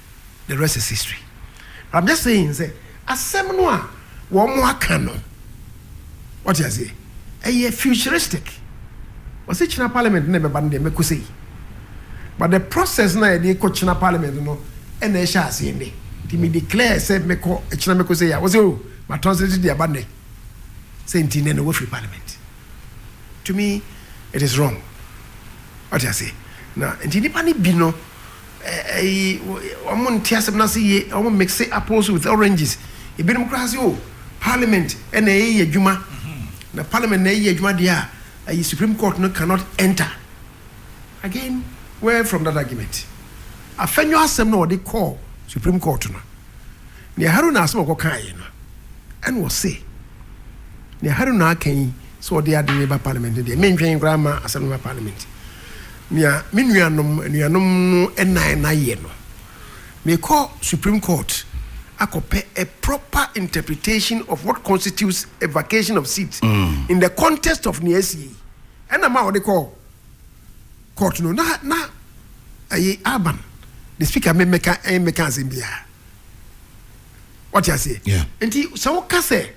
the rest is history but I'm just saying sɛ asɛm no a wɔn aka no wɔte aseɛ ɛyɛ futuristic wɔsi kyina parliament na ɛbɛba no deɛ mɛko sɛ yi but the process na yɛde kɔ kyina parliament no ɛna ɛhyɛ aseɛ nnɛ ti mi declare sɛ mɛkɔ ɛkyina mɛko sɛ yi a wɔsi o oh, ma translate deɛ aba nnɛ sɛ nti nnɛ na wɔfiri parliament to me it is wrong wɔte aseɛ na nti nipa ne bi no. Eyi wɔn nte asɛm no ase yie, wɔn mixe apples with oranges, ebinom koraa se oh parliament na ɛyɛ adwuma, na parliament na ɛyɛ adwuma deɛ a ayi supreme court no cannot enter. Again where from that argument? Afɛnyo asɛm na wɔde kɔɔ supreme court no. Nea Haruna asɛm a ɔkɔkaeɛ no, ɛna ɔse, nea Haruna aka yi sɛ ɔde ade no reba parliament no deɛ, mentwɛn koraa mma asɛm no mma parliament. Nea me nuanom, anuanom no nnan no ayɛ no, mekɔ Supreme Court akɔpɛ a proper interpretation of what constitutes a vacation of seat in the context of nea asie yi. Ɛna ma wɔde kɔɔ court no, na, na, ɛyi, Alban, the speaker, me mmɛka, ɛmmɛka asɛm biara. wate aseɛ yeah. nti sɛ woka sɛ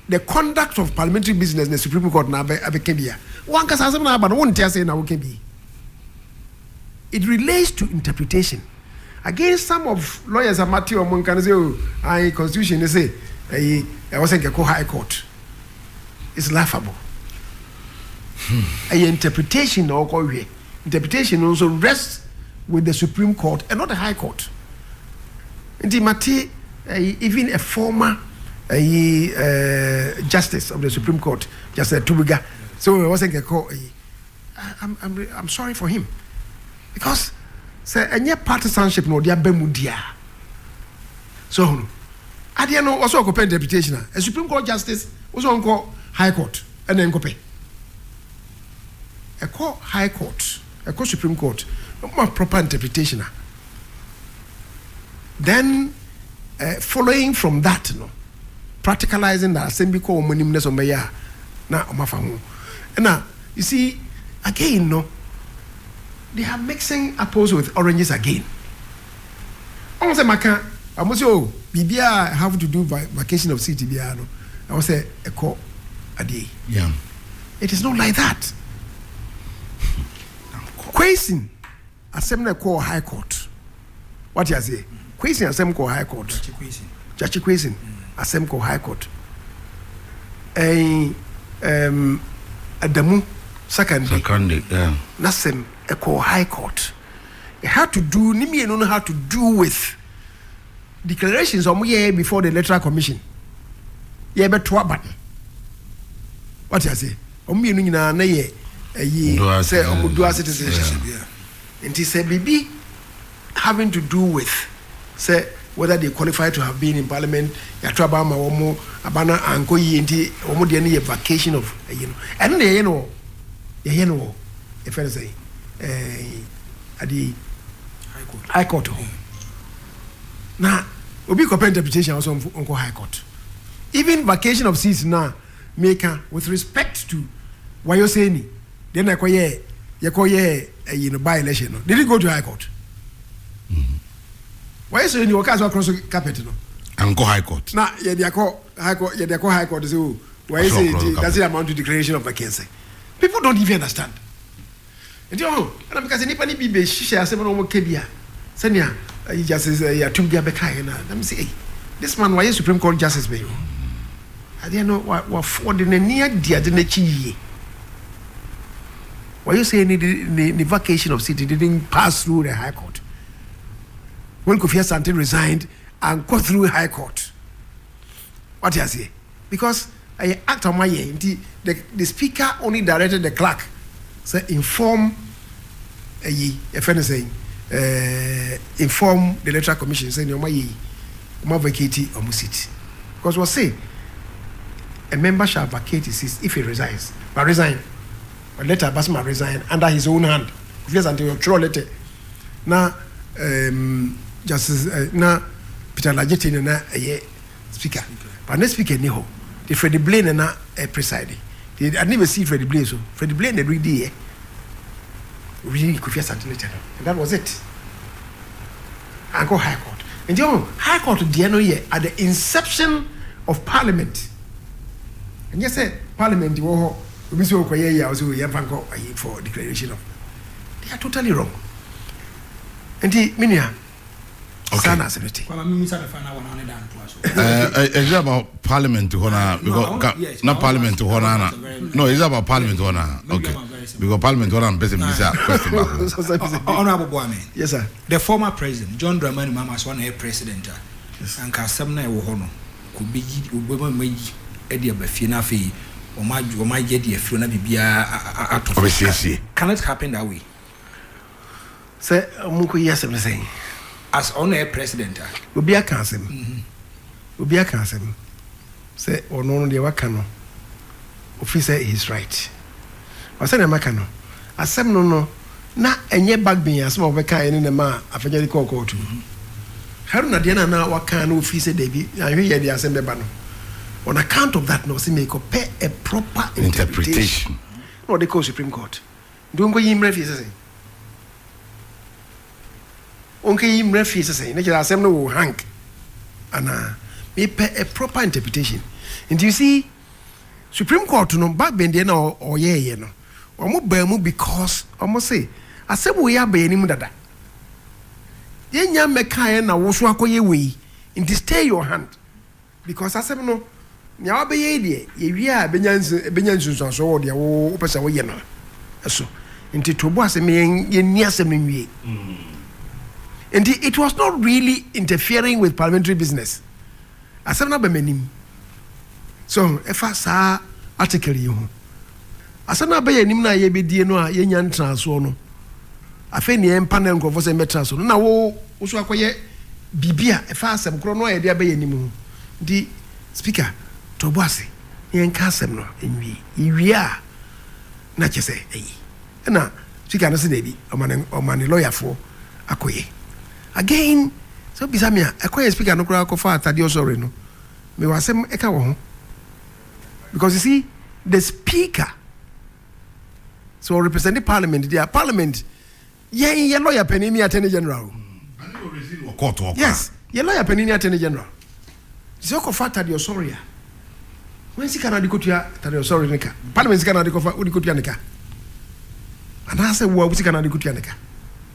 the conduct of parliamentary business na supreme court na abɛka bi a wankasa asɛm na aba no wonte ase na woka bi it relates to interpretation against some of lawyers a mate ɔmo nka no sɛ o ayi constitution ne sɛ ɛyi ɛwɔ sɛ nkɛkɔ high court it's laughable ɛyɛ hmm. interpretation na ɔkɔ hwɛ interpretation no nso rests with the supreme court and not the high court. Nti mate ɛyi even a former ɛyi ɛɛ justice of the supreme court Justice Atubiga sɛ wɔn wɔsɛ nkɛkɔ ɛyi I'm I'm re- I'm sorry for him because sɛ ɛnyɛ partisanship na ɔde aba mu di a so ɔhono adeɛ no ɔsɛ ɔkɔpɛ interpretation a a supreme court justice ɔsɛ ɔnkɔ high court ɛna nkɔpɛ. ɛkɔ high court, ɛkɔ supreme court, na ɔmo ma proper interpretation a, then eh, following from that no, practicalizing that asɛm bi kɔ ɔmo anim na sɛ ɔmo bɛyɛ a, na ɔmo afa ho. Ɛna, you see, again no, they are mixing apples with oranges again. Wɔn sɛ maka wɔn sɛ oh biribiara a have to do vacation of city biara no ɛwɔ sɛ ɛkɔ adeɛ yi. Yeah. It is not like that. Kwesi asɛm na ɛkɔɔ high court. Wate aseɛ? Kwesi asɛm kɔɔ high court. Gyakye Kwesi asɛm kɔɔ high court. Ɛn um, Adamu Sakande. Sakande, yeah. N'asɛm ɛkɔɔ high court. It had to do, ne mmienu no had to do with declarations a wɔyɛɛ before the electoral commission. Yɛbɛto aba no. Wate ase? Wɔn mmienu nyinaa na yɛ ɛyi sɛ wɔn dual citizenship. Nti sɛ biribi having to do with sɛ whether they qualify to have been in parliament yɛato aba ama wɔn aba no ankɔ yie nti wɔn deɛ no yɛ vacation of ɛyi no ɛno na yɛyɛ no wɔ yɛyɛ no wɔ yɛfɛ no sɛ eh, adeɛ yi high court hɔ na obi kɔpɛ interpretation a ɔsɛ ɔnkɔ high court even vacation of seas no a meka with respect to wayoseni deɛ na ɛkɔyɛ yɛkɔyɛ ɛyi eh, no by election no they didn't go to high court mm-hmm. wayoseni wɔkaa sɛ ɔkorɔ so carpet no ankɔ high court na yɛde akɔ high court yɛde akɔ high court sɛ o wayoseni nti that's the amount to declaration of vacancy People don't even understand. Nti ɔho, ɛna meka sɛ nnipa no bi bɛhyehyɛ asɛm na wɔka bi a sɛnea eh, Justice eh, Yatum bi abɛkaeɛ no a na mesɛ ei this man wayɛ Supreme Court Justice bɛyɛ o. Adeɛ no wa- wa- wɔde n'ani adi ade no akyi yie. Why you say ne, ne, ne vacation of city didn't pass through the high court? When Kofi Asante resigned, ankɔ through high court. Wate aseɛ? because ɛyɛ act a wɔayɛ nti the the speaker only directed the clerk sɛ inform ɛyi yɛfɛ ne sɛn ɛɛ inform the electoral commission sɛ nea wɔn ayɛ yi wɔn avacate wɔn seat because wɔse a member shall vacate his seat if he resigns ma resign a letter aba sɛ ma resign under his own hand kofi asante ɔtwerɛ letter na ɛɛm justice ɛ na peter lajete na na ɛyɛ. speaker but na speaker ni hɔ de Freddie Blaine na na eh, preside de ade bɛ si Freddie Blaine so Freddie Blaine na redi yɛ redi Kofi Asante ne channel and that was it ankɔ high court nti ɔn high court deɛ no yɛ at the inception of parliament ɛnyɛ sɛ parliament wɔ hɔ obi sɛ ɔkɔ yɛ yɛ a ɔsɛ ɔyɛ mfa nkɔ ayi for declaration of they are totally wrong nti menua saa na asɛm no te ɛsɛ eh, about parliament hɔ na ah, because na parliament hɔ na na no ɛsɛ about parliament hɔ na okay because parliament hɔ na mpɛ sɛ mbisa question baako honorable boame yes sir the former president john dramani mahama so na yɛ president a anka asɛm na ɛwɔ hɔ no kò bɛyi obɛma ma yi ɛde aba fie na afei wɔn ayɛ de afiri na biribiara atɔ fo can it happen that way Sɛ ɔmo kɔ yi asɛm ne sɛn. As ɔno na ɛyɛ president a. Obi aka asɛm obi aka asɛm sɛ ɔno no deɛ waka no ofi sɛ he's right but sɛdeɛ maka no asɛm no no na ɛnyɛ bagben asɛm a wɔbɛkaeɛ ne na ɛmaa Afanya de kɔɔ kɔɔto no Haruna deɛ na na waka na ofi sɛ dabi anhwɛ yɛ deɛ asɛm bɛba no on account of that na ɔse mekɔpɛ a proper interpretation na ɔde kɔɔ Supreme Court Nti onkoyi mmra fie sesei. Onkeyi mmra fie sesei. Ne kyerɛ asɛm no wo hank anaa? Me pɛ a proper interpretation. Nti you see supreme court no Bagbin deɛ na ɔyɛɛyɛ no ɔmo baa mu because ɔmo se asɛm wei aba yɛn anim dada. Yɛn nya mmɛkaeɛ na wo so akɔyɛ wei nti stay your hand. Because asɛm no, nea wobɛyɛ yi deɛ, yɛwie a ɛbɛnya nsu, ɛbɛnya nsunsuansoɔ wɔ deɛ wo, wopɛ sɛ woyɛ no so. Nti to bo ase ma yɛn, yɛnni asɛm no nwie. Nti it was not really interfering with parliamentary business. Asɛm no aba m'anim. So ɛfa saa article yi ho. Asɛm no a bɛyɛ anim no a yɛbɛdie no a yɛnnya ntraa soɔ no, afei neɛ ɛmpa na nkurɔfoɔ sɛ mmɛtra so no na wo wo so akɔyɛ biribi a ɛfa asɛm korɔ no a yɛde abɛyɛ anim ho. Nti Speaker, to ɔbo ase na yɛnka asɛm no nwie. Yɛwie a na kyerɛ sɛ ayi. Ɛna Speaker no se daabi, ɔma ne ɔma ne lɔyafoɔ akɔyɛ. Again, sɛ wobisa me a, ɛkwan a Speaker no koraa kɔfaa Thaddeus Ory no, mewɔ asɛm ɛka wɔ ho. because you see the speaker sɛ so ɔrepresent parliament deɛ parliament yɛn yɛ lawyer panyin ni attorney general yes yɛ lawyer panyin ni attorney general sɛ ɔkɔfa atade ɔsɔre a wɔn sika na ade kotua atade ɔsɔre ne ka parliament sika na ade kɔfa ɔde kotua ne ka anaasɛ wɔn sika na ade kotua ne ka.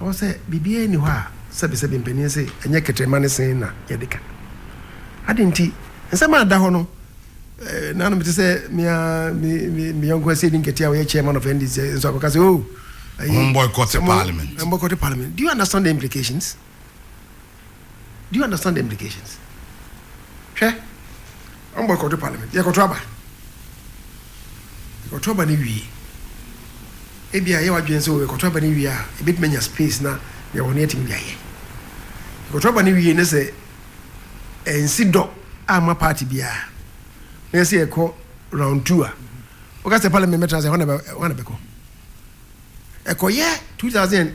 Ɛwɔ sɛ biribiara nni hɔ a sɛbesɛbe mpanin se ɛnyɛ kɛtrɛma ne se na yɛde ka. Adɛn nti? Nsɛm a ɛda hɔ no, nanom te sɛ me ara me me me yɔnko asɛdi nketewa a ɔyɛ chairman of NDC nso akɔka sɛ oh, ɛyi, Wɔn boycott sɛ mo- parliament. wɔn boycott parliament. Do you understand the implications? Do you understand the implications? Hwɛ, wɔn boycott parliament, yɛkɔto aba. Yɛkɔto aba no wie. Ebia yɛ wadwene sɛ yɛkɔto aba no wie a, ebetumi anya space na deɛ wɔn yɛtumi de ayɛ. Yɛkɔto aba no wie ne sɛ ɛnsi dɔ ama party biara. Na yɛsɛ yɛkɔ round two a, wɔka sɛ parliament bɛtra sɛ ɛhɔ na bɛkɔ. ɛkɔyɛ two thousand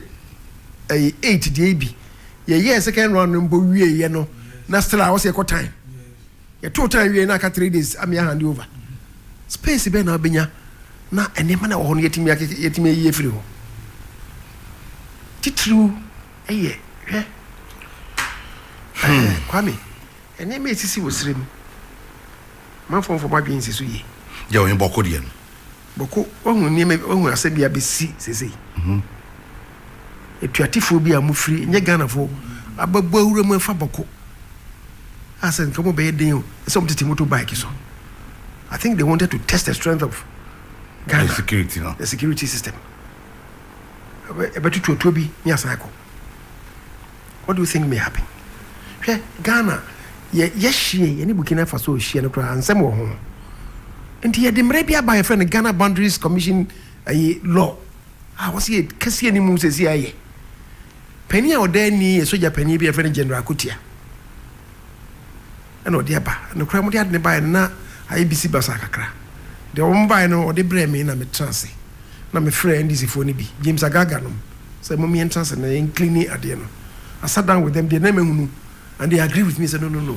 and eight deɛ bi yɛyɛɛ second round no mpo wieeɛ no na still a wɔsɛ yɛkɔ time yɛtoo time wieeɛ na aka three days amea hand over space bɛn na wobɛnya na nneɛma na ɛwɔ hɔ no yɛtumi akeke yɛtumi ayi afiri hɔ titiriw ɛyɛ hwɛ hmm. kwame nneɛma ɛsisi wɔ serɛ mu manfoɔ mfɔ madwen nsi so yie yɛ ɔne bɔkɔ deɛ no Bɔko, wahu nneɛma bi, wahu asɛm bi a abɛsi seesei. Atuatefoɔ bi a wɔfiri, ɛnyɛ Ghanafoɔ, abɛbɔ awura mu afa Bɔko. A sɛ nka wɔbɛyɛ den o, sɛ wɔtete moto bike so. I think they wanted to test the strength of Ghana. The security no. The security system. Ɛbɛtoto atuo bi ne asan akɔ. What do you think may happen? Hwɛ Ghana yɛ yɛhyeɛ yɛne Burkina Faso hyeɛ no koraa nsɛm wɔ ho nti yɛde mmerɛ bi aba yɛfrɛ no Ghana Boundaries Commission ayi law a wɔsɛ yɛ kɛseɛ ne mu sɛsi ayɛ panin a ɔda ani yɛ sogya panin bi yɛfrɛ no General Akotia na ɔde aba. Nokorɛ wɔde ade no baeɛ no na ayɛ bisi basaa kakra. Deɛ wɔn baeɛ no wɔde brɛɛ me na me tena ase na me frɛɛ NDC foɔ no bi, James Agaga nom, sɛ mom yɛn tena ase na yɛn cleane adeɛ no. I sat down with them deɛ na mahunu and they agreed with me sɛ no no no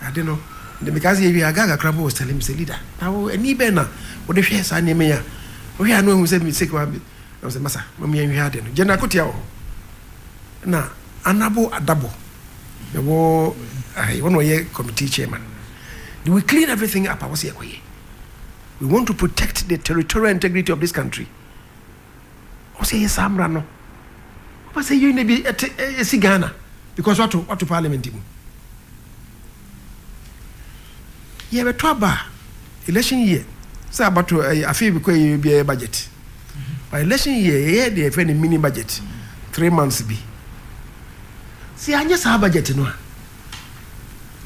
ade no deɛ me kaa sɛ yɛwie Agaga koraa po was telling me sɛ leader na wo ani bɛn na wode hwɛ saa nneɛma yi a wohwɛ a na wahu sɛ me sick wa me na sɛ masa mom yɛn hwɛ ade no General Kotia wɔ hɔ na Anabo Adabo Yɛwɔ ahe, wɔn na wɔyɛ committee chairman. They will clean everything up a wɔsi ɛkɔ yɛ. We want to protect the territorial integrity of this country. Wɔsi ɛyɛ saa mmara no. Wɔpɛ sɛ yɛn na bi ɛte ɛsi Ghana because wato wato parliament mu. Yɛbɛtɔ aba a, election year, sɛ abatoɔ ɛyɛ afei bi kɔ yɛ biara budget. But election year yɛyɛ deɛ yɛfrɛ no mini budget, three months bi. Sɛ yɛanyɛ saa budget no a,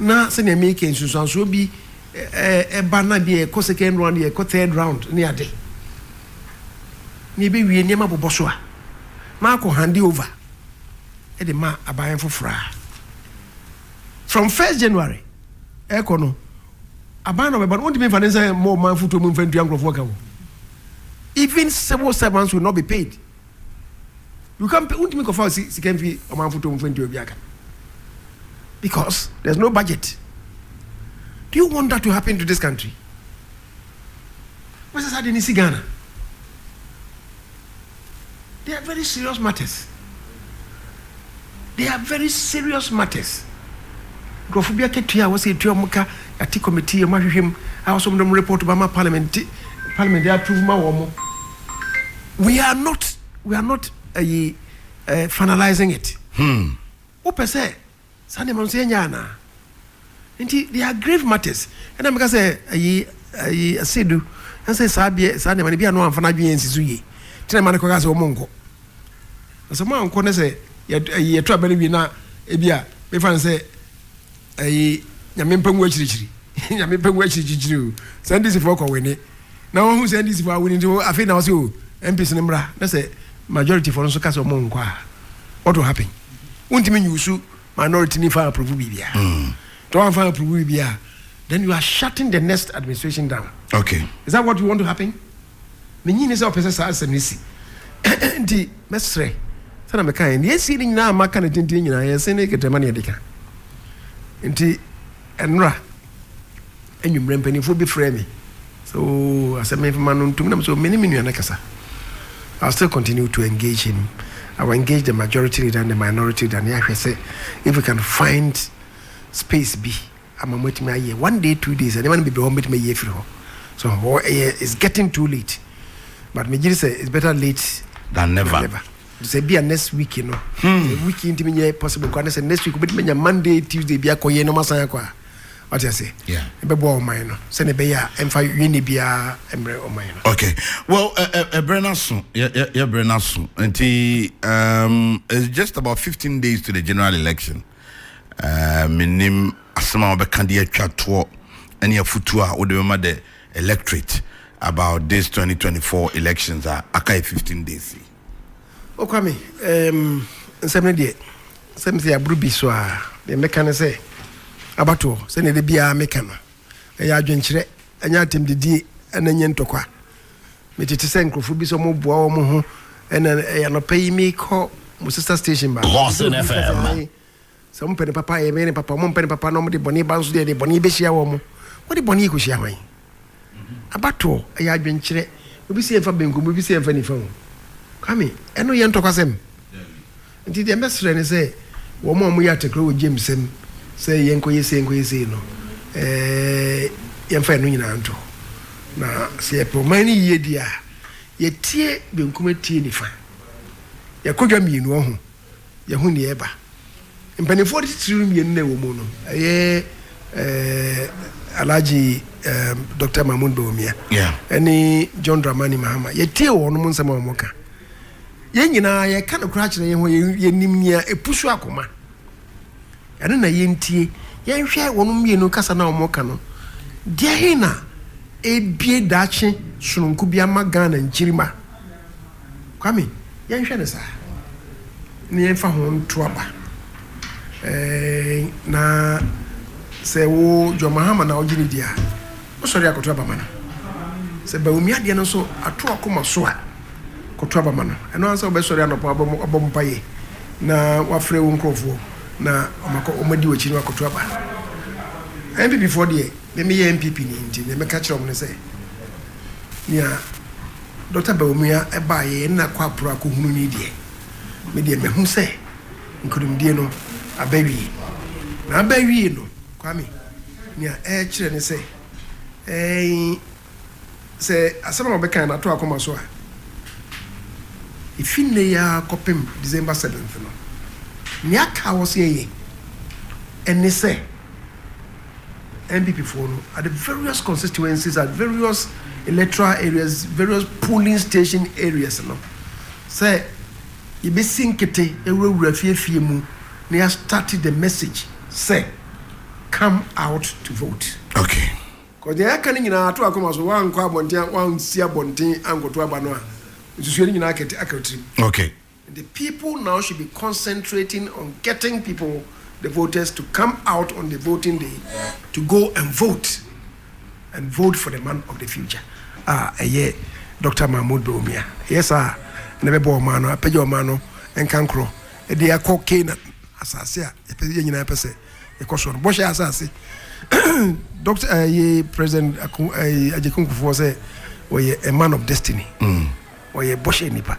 na sɛdeɛ meka nsunsuansoɔ bi ɛba na bi yɛkɔ second round, yɛkɔ third round ne ade. Na yɛbɛwie nneɛma bobɔ so a, na akɔ hande over de ma aban foforɔ a. From first January ɛkɔ no, aban na ɔbɛba no, wontumi mfa ne nsa mmɔ ɔman fotuo mu mfa ntua nkurɔfoɔ ka o. Even civil servants will not be paid. You can't pay, wontumi kɔfa sika mfi ɔman fotuo mu mfa ntua obi aka. Because there's no budget. Do you want that to happen to this country? Wasa saa de ne si Ghana. They are very serious matters. They are very serious matters. Nkurɔfo bi akatua a wɔsɛ etua wɔn ka yɛate committee yɛ wɔn ahwehwɛ mu a wɔsɛ wɔn de wɔn report ba ma parliament ti parliament de approve ma wɔn. We are not we are not ayi uh, finalizing it. Hmm. Wopɛ sɛ Saa nneɛma no nso yɛnyɛ anaa? Nti they are grave matters. Ɛna meka sɛ ayi ayi Sedu ɛsɛ saa deɛ saa nneɛma no bi a no amfa n'adwene ansi so yie. Tena ma no kɔka sɛ wɔn nkɔ. Na sɛ wɔn ankɔ ne sɛ ayi yɛto abɛn wie na ebi a mefa no sɛ ayi nyame mpa ngu akyirikyiri. nyame mpa ngu akyirikyiri o. Sɛ NDC foɔ kɔ wene na wɔn ho sɛ NDC foɔ awini nti afei na wɔsɛ o MPs no mmra na sɛ majority foɔ no nso ka sɛ wɔn nkɔ a what will happen? wontumi nyusu minority ni fa approve biribiara hmm. tɛ wɔn fa approve biribiara then you are shutting the next administration down okay is that what you want to happen ne nyi ne sɛ ɔpɛ sɛ saa asɛm ne si nti mɛsrɛ sɛna meka yɛ nea ɛsie ne nyinaa maka ne tenten nyinaa yɛsɛ ne kɛtɛma ne yɛde ka nti ɛnora Anwummerɛ mpaninfoɔ bi frɛɛ me sɛ oo asɛ menfma no ntom na me sɛ oo me ne me nua no kasa I'll still continue to engage him I will engage the majority leader and the minority leader na yɛahwɛ sɛ if we can find space bi ama mo atumi ayɛ one day two days nneɛma no bebree hɔ mobɛtumi ayi afiri hɔ so hɔ ɛyɛ it's getting too late but megyere sɛ it's better late than never, than never. sɛ bia next week no hmm. week ntimi nyɛ possible kwa ne sɛ next week wobɛtumi anya monday tuesday bi akɔyɛ no masan akɔ a wate ase ɛbɛboa ɔman no sɛdeɛ ɛbɛyɛ a ɛmfa yɛnne biara mmerɛ ɔman no okay well ɛberɛ no aso yɛberɛ no aso nti um, it's just about 15 days to the general election uh, menim asɛm a wɔbɛka de atwa toɔ ɛne afutuo a wode bɛma the electorate about this 2024 elections a aka 15 days Okwame, um nsɛm no deɛ sɛ mesɛ aboro bi so a deɛ mɛka ne sɛ abatoɔ sɛdeɛ da biara meka no ɛyɛ adwenkyerɛ ɛnyɛ atɛmdidie ɛna ɛnyɛ ntɔkwa metete sɛ nkurɔfoɔ bi sɛ ɔmoboa wɔ mo ho ɛna ɛyɛ anɔpa yi mekɔ mo sister station baako Sɛ wɔpɛ ne papa a, yɛbɛyɛ ne papa, wɔmpɛ ne papa na wɔde bɔne ba nso deɛ, ɛdeɛ bɔne bɛhyia wɔn. Wode bɔne rekɔhyia hwan? Abatoɔ, ɛyɛ adwenkyerɛ. Obi se yɛmfa benkum, obi se yɛmfa nifa o. Kwame, ɛno yɛ ntɔkwasɛm. Nti deɛ mɛsrɛ ne sɛ, wɔn a wɔyɛ atekorɔ wɔ James sɛm, sɛ yɛnkɔyɛ sei, yɛnkɔyɛ sei no, eh, yɛmfa ɛno nyinaa nto hɔ. Na sɛ yɛpɛ ɔman no yie deɛ a, yɛtie benkum atie nifa. Yɛkɔdwa mmienu, ɔho. yɛahu nea ɛreba. Mpanimfoɔ no titiriw mmienu na ɛwɔ mu no, ɛyɛ eh, Alhaji eh, Dr. Mahmoud Bawumia yeah. ne John Dramani Mahama. Yɛtie wɔn mo nsɛm a wɔka. Yɛn nyinaa yɛka no koraa kyerɛ yɛn ho yɛnim nea ɛpusu akoma. Ɛno na yɛntie. Yɛnhwɛ wɔn mmienu kasa no a wɔka no. Deɛ he na ebie daakye sononko bi ama Ghana nkyirimma. Kwame, yɛnhwɛ no saa na yɛmfa ho nto aba. Eeii na sɛ wo John Mahama na wogye no di a, wosɔre a kɔto aba ma no. Sɛ Bawumia deɛ no nso ato akoma so a, kɔto aba ma no. Ɛno ara sɛ wobɛsɔre anɔpa abɔ mpaeɛ na wafrɛ wo nkurɔfoɔ na wɔadi w'akyi na wakɔto aba. NPP foɔ deɛ, me meyɛ NPP ni nti deɛ mɛka kyerɛ wɔn ne sɛ, nea Dɔkta Bawumia ɛbaa yɛɛ nna kɔ aporo akɔhunu no yi deɛ, me deɛ mahu sɛ nkunimdie no aba awie. Na aba awie no, Kwame, nea ɛrekyerɛ ne sɛ, ɛɛn, sɛ asɛm a wɔbɛkae no ato akoma so a, ɛfi nnɛ yi ara kɔpem December seventh no, nea aka a wɔse ɛyɛ ne sɛ, NPP foɔ no at the various constituencies at various electoral areas various polling station areas no sɛ yɛbɛsi nkete awurawura fiefie mu na yɛ start the message sɛ come out to vote. Okay. Cause deɛ yɛaka no nyinaa ato akoma so woankɔ abɔnten a woansi abɔnten ankɔto aba no a nsusuiɛ no nyinaa aka wo tirim. Okay. The people now should be concentrating on getting people, the voters, to come out on the voting day to go and vote and vote for the man of the future a ɛyɛ Doctor Mahmoud Bawumia. Ɛyɛ saa a na ɛbɛbɔ ɔman no, apagya ɔman no nkankorɔ de akɔ Canaan asase a yɛpɛ yɛn nyinaa pɛ sɛ yɛkɔ so no. Bɔhyɛ asase Doctor ɛyɛ President Aku ɛyɛ Agyekunkufoɔ sɛ ɔyɛ a man of destiny, ɔyɛ bɔhyɛ nipa.